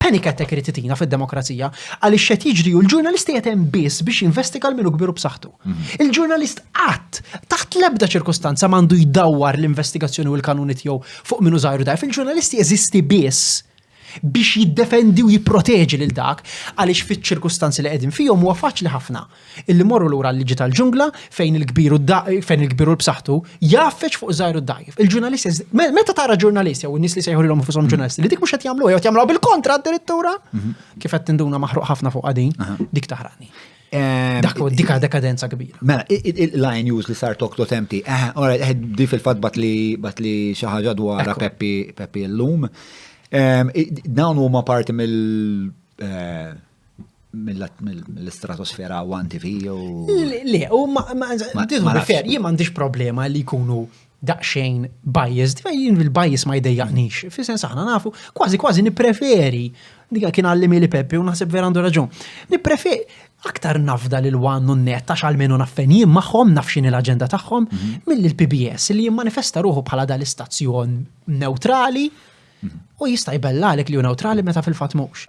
Panic attack irid itina fid-demokrazija għaliex xed jiġri u l-ġurnalisti qed hemm biss biex jinvestiga l-minu kbiru b'saħħtu. Mhm. Il-ġurnalist qatt taħt l-ebda ċirkustanza m'għandu jdawwar l-investigazzjoni u l-kanuni tiegħu fuq minu żgħir dajf. Il-ġurnalisti jeżisti biss biex jiddefendi u jipproteġi lil dak għaliex fiċ-ċirkustanzi li qegħdin fihom huwa faċli ħafna Illi morru lura l-liġi tal-ġungla fejn il-kbir u fejn il-kbir u l-b'saħħtu jaffeċ fuq żgħir u dajf. Il-ġurnalisti, meta tara ġurnalist jew nies li sejħulhom fushom mm. ġurnalisti li dik mhux qed jagħmlu jew jagħmlu bil-kontra addirittura, mhm. kif qed tinduna maħruq ħafna fuq din, dik taħrani. Dak dika dekadenza kbira. Mela, il-line news li sar tokto temti, eh, eh, di fil-fat bat li xaħġa dwar Peppi l-lum. Dawn huma parti mill- eh, mill-istratosfera u għan TV u. Le, u ma fair, jien m'għandix problema li jkunu daqxejn biased, jien il-bias ma jdejjaqnix, fi sens aħna nafu, kważi kważi nipreferi, dika kien għallimi li Peppi u naħseb vera għandu raġun, nipreferi aktar nafda li l-wan u net għax għalmenu naffen jien maħħom nafxin l-agenda tagħhom mhm. mill-PBS li jimmanifesta ruħu bħala dal-istazzjon neutrali U jista' jbellalek li hu newtrali meta fil-fatt mhux.